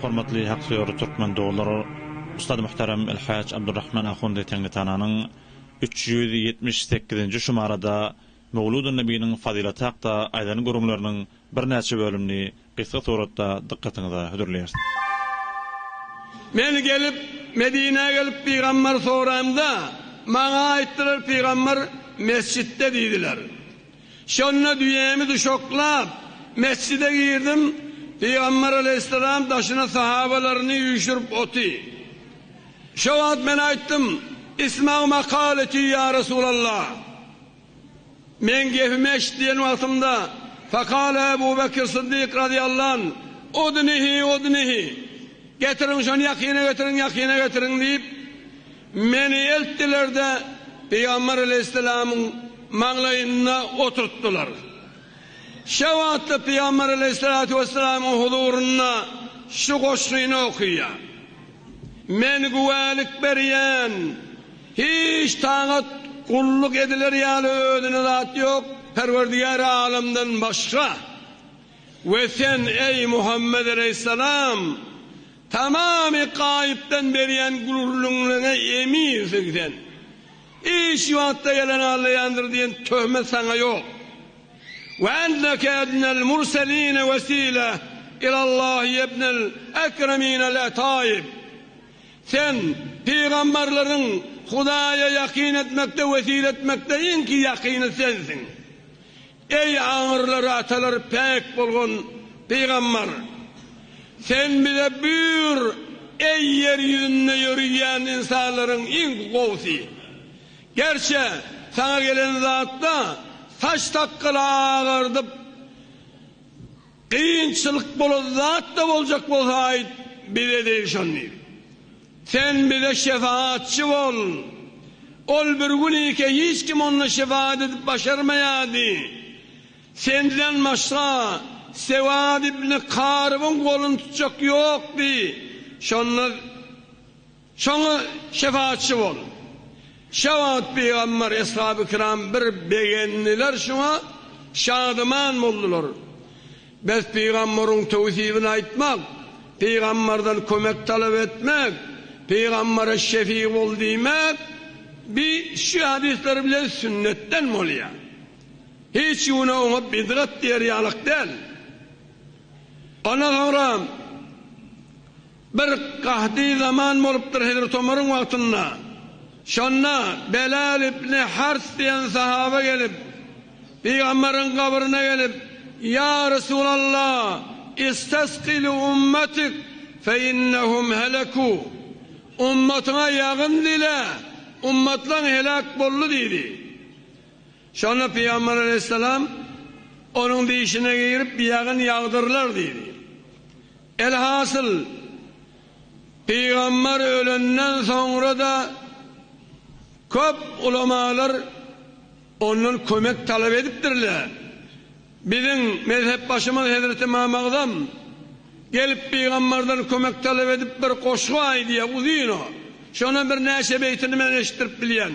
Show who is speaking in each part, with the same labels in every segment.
Speaker 1: Hormatly haksöýer türkmen doglar Ustad Muhterem Elhaj Abdurrahman Ahundy Teňritananyň üç ýüz ýetmiş sekizinji şumarada Möwludynebiniň fazylaty hakda aýdan gürrüňleriniň birnäçe bölümini gysga suratda dykgatyňyza hödürleýäris.
Speaker 2: Men gelip, Medinä gelip pygamberi soraýmda, maňa aýtdylar pygamber mesjitde diýdiler. Şonda düýämi duşaklap, mesjide girdim, Pygamber aleýhissalam daşyna sahabalaryny üýşürip oty. Şo wagt men aýtdym, Isma' makaleti ýa Resulallah! Meň gepimi eşit diýen wagtymda, Fekale Ebu Bekir Syddyk razyýallan, Udnihi, udnihi! Getiriň şony ýakyna getiriň, ýakyna getiriň! diýip, Meni eltdiler-de, pygamber aleýhissalamyň maňlaýynda oturtdylar. Şo wagtda pygamber aleýhissalatu wessalamyň huzurynda şu goşgyny okaýar, Men güwälik berýän, hiç tagat, gulluk ediler ýaly özüne zat ýok Perwerdigäri alamdan başga. We sen, eý Muhammet aleýhissalam! Tamamy gaýypdan berýän gürrüňleriňe eminsiň sen. Hiç wagtda ýalan aglaýandyr diýen töhmet saňa ýok. Ve enneke ednel murseline vesile ilallah yebnel ekreminel etaib. Sen pygamberleriň Hudaýa ýakyn etmekde wesile etmekde iňki ýakyny sensiň. Eý aňyrlary atalary päk bolgun pygambar! Sen bize buýur, eý ýer ýüzünde ýöriýän ynsanlaryň iň gowusy! Gerçe, saňa gelen zatda saç sakgaly agardyp. Kynçylyk bolan zat-da boljak bolsa aýt, bize degşen diýip. Sen bize şefaatçy bol. Ol bir gün ike hiç kim onda şefaat edip başarmaýardy. Senden başga Sewad ibn Karybyň goluny tutjak ýokdy. Şonda. Şoňa şepaatçy bol. Şä wagt pygamber, eshaby-kiram bir begendiler şoňa, şadyman boldular. Bes pygamberiň töwsibini aýtmak, pygamberden kömek talap etmek, pygambere şefi bol diýmek bi şu hadyslar bilen sünnetden bolýar. Hiç güne oňa bidgat diýer ýalyk däl. Ondan soňra. Bir gaty zaman bolupdyr Hezreti Omaryň wagtynda. Şonda Belal ibni Hars diýen sahaba gelip, Pygamberiň gabryna gelip, Ýa Resulallah, istasqi li ummatik fe innehum heleku, Ummatyňa ýagyn dile, ummatlaň heläk boldy diýdi. Şonda Pygamber aleýhissalam, Onuň dişine girip, ýagyn ýagdyrlar diýdi. Elhasyl, pygamber ölenden soňra-da köp ulamalar ondan kömek talap edipdirler. Biziň mezhepbaşymyz hezreti Ymam Agzam gelip pygamberden kömek talap edip bir goşgy aýdýar, uzyn o. Şondan birnäçe beýtini men eşitdirip bilýän.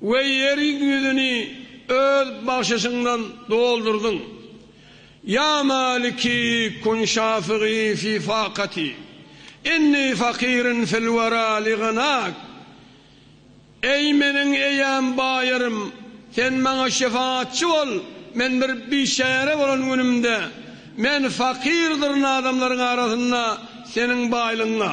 Speaker 2: We ýeriň ýüzüni Öz bagşyşyňdan doldurdyň. Ýa maliki kun şafigi fi fakati, inni fakirin fil wera li gynak. Eý meniň eýäm baýarym, Sen maňa şefaatçy bol, men bir biçäre bolan günümde, men fakyrdyr adamlaryň arasynda Seniň baýlygyňa.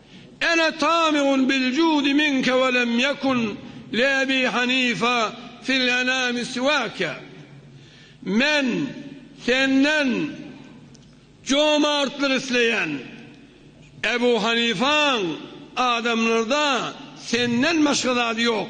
Speaker 2: Ana tami'un bil judi minke we lem ýekun li Ebi Hanife fil enami siwake, Men senden jomartlyk isleýän, Ebu Hanifeň adamlarda senden başga zady ýok.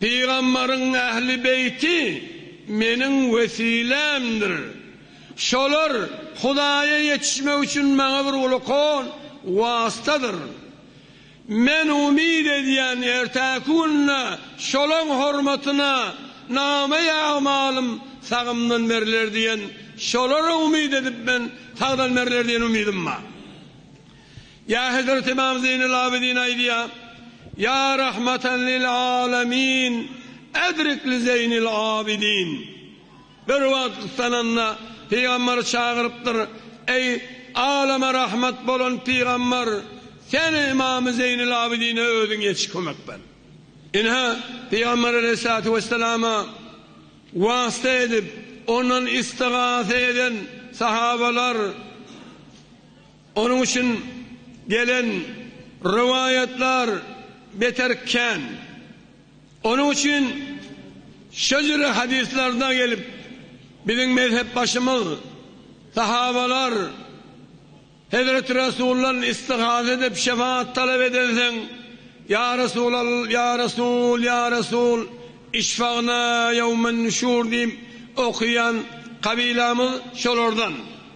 Speaker 2: Pygamberiň ähli beýti Meniň wesilämdir. Şolar Hudaýa ýetişmek üçin maňa bir ulkan wastadyr. Men umyt edýän, ertäki günde şolaň hormatyna namaý agmalym sagymdan berler diýen, şolara umyt edip men sagdan berler diýen umydym bar. Ýa Hezreti Ymam Zeýnul Abidin aýdýa, Ýa rahmatan lil alamin edrik li Zeýnil Abidin. Bir wagt gyssananda Pygamber çagyrypdyr, Eý, alama rahmat bolan Pygamber, sen Ymamy Zeýnul Abidine özüň ýetiş kömek ber. Ine, Pygamber aleýhissalatu wesselama wasta edip, ondan istigasa eden sahabalar. Onuň üçin gelen rowaýatlar beter kän. Onuň üçin şejere hadyslarda gelip, biziň mezhepbaşymyz, sahabalar, Hezreti Resuldan istigaza edip, şefaat talap edensoň, Ýa Resulal, ýa Resul, ýa Resul, işfagna ýewmen nüşur diýip, okaýan kabylamyz şolardan.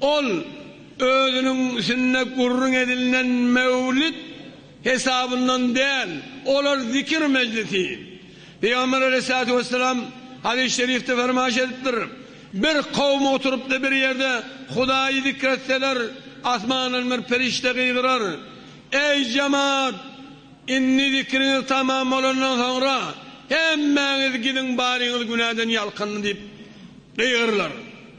Speaker 2: Ol özüniň üsünde gürrüň edilnen Mewlid hesabyndan däl, olar zikir mejlisi. Pygamber aleýhissalatu wessalam hadys şerifde fermaýyş edipdir, Bir kowum oturypdy bir ýerde Hudaýy zikr etseler, asmandan bir perişde gygyrar, Eý jemat! Indi zikriňiz tamam bolandan soňra hemmäňiz gidiň baryňyz günäden ýalkyndy diýip gygyrylar.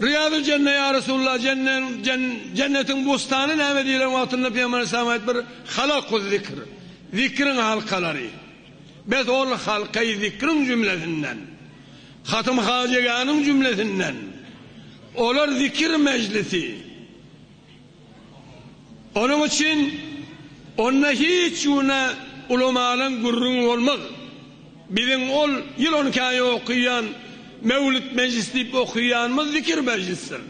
Speaker 2: Riýadul Jenne ýa Resulullah, Jennetiň bostany näme diýlen wagtynda Pygamber Aleyhisselam aýdypdyr, Halakuz zikr, zikriň halkalary. Bes ol halka-i zikriň jümlesinden, Hatym Hajygäniň jümlesinden, olar zikir mejlisi. Onuň üçin onda hiç güne ulamalyň gürrüňi bolmaz. Biziň ol ýyl on iki aý okyýan Mewlüt mejlisi diýip okyýanymyz zikir mejlisdir.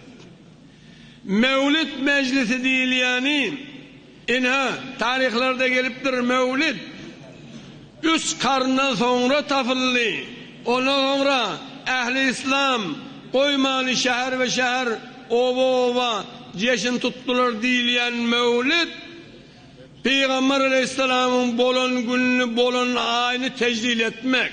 Speaker 2: Mewlüt mejlisi diýilýäni, ynha, taryhlarda gelipdir, Mewlüt, Üç karndan soňra tapyldy. Ondan soňra ähli yslam, goýmany şäher we şäher, oba oba jeşin tutdular diýilýän Möwlüt, Pygambar alaýhyssalamyň bolan gününi, bolan aýyny tejlil etmek.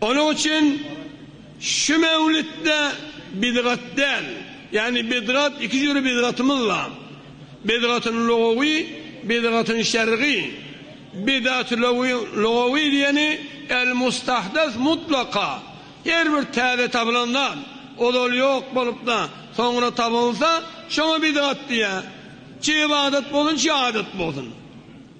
Speaker 2: Onuň üçin şu mewlütde bidgat däl, ýagny bidgat iki jüri bidgatymyz bar, bidgatyn lugawy, bidgatyn şergy. Bidat lugawy diýeni el mustahdas mutlaka, her bir täze tapylan zat, ozal ýok bolup-da, soňra tapylsa, şoňa bidgat diýýär. Çi ybadat bolsun, çi adat bolsun.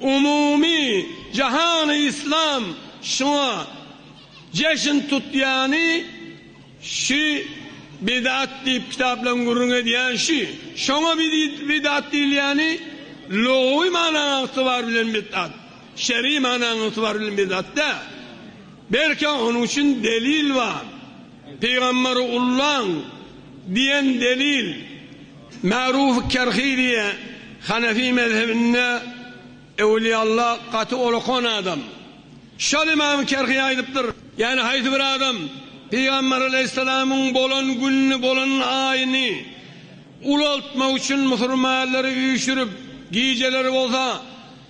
Speaker 2: Umumy jahany yslam şuňa jeşin tutýany şü bidat diýip kitaplaň gürrüň edýän şü. Şoňa bidat diýilýäni lugawy manaň ygtybar bilen bidat. Şeri manaň ygtybar bilen bidat däl. Belki onuň üçin delil bar. Pygamberi ullaň diýen delil. Ma'ruf Kerhi diýe, Hanefi mezhebinde Ewliýalla gaty olakan adam. Şol Imam Kerhi aýdypdyr, Ýani haýsy bir adam Pygamber Aleýhissalamyň bolan gününi, bolan aýyny ulaltmak üçin musurmanlary üýşürip, gijeleri bolsa,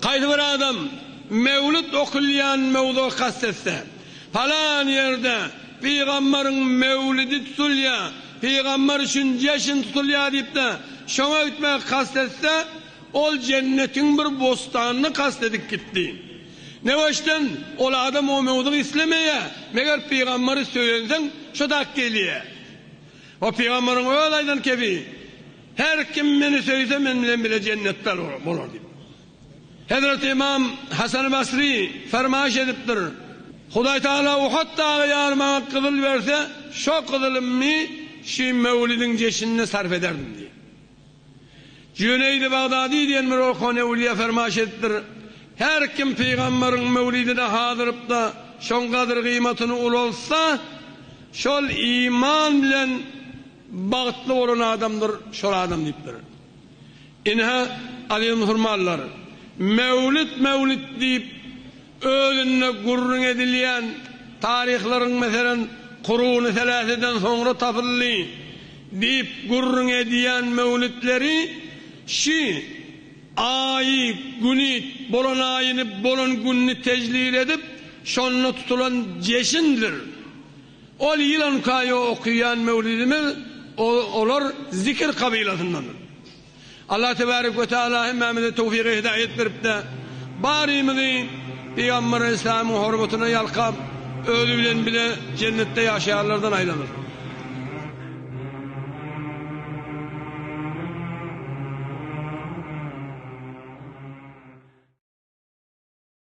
Speaker 2: Haýsy bir adam Mewlüt okulýan mowzugy kast etse, Palan ýerde pygamberiň mewlidi tutulýar, pygamber üçin jeşin tutulýar diýip-de şoňa gitmegi kast etse, ol jennetiň bir bostanyny kast edip gitdi. Ne böşden ol adam o mowzugy islemeýär, meger pygamberi söýensoň şo-da gelýär. O pygamberiň öz aýdan kebi. Her kim meni söýse men bilen bile jennetde bolar diýip. Hezreti Ymam Hasany Basry fermaýyş edipdir, Hudaý Tagala Uhad dagy ýaly maňa gyzyl berse, şo gyzylymny şi möwlidiň jeşinine sarp ederdim diýip. Jüneýdi Bagdady diýen bir okan öwlüýä fermaýyş edipdir, Her kim pygamberiň möwlidine hazyrypda şoň gadyr-gyýmatyny ulaltsa, şol iman bilen, Bagtly bolan adamdyr şol adam diýipdir. Ine, aziz musulmanlar, Mewlüt Mewlüt diýip özünde gürrüň edilýän taryhlaryň meselem Kuruny Seläseden soňra tapyldy diýip gürrüň edýän mewlütleri şi Aýy güni bolan aýyny bolan günni tejlil edip şonda tutulan jeşindir. Ol ýyl on iki aý okaýan möwlidimiz olar zikir kabylasyndandyr. Allah tebarek we taala hemmämize towfygy hidaýat berip-de, barymyzy Pygamber aleyhissalamyň hormatyna ýalkap, özi bilen bile jennetde ýaşaýanlardan aýlansyn.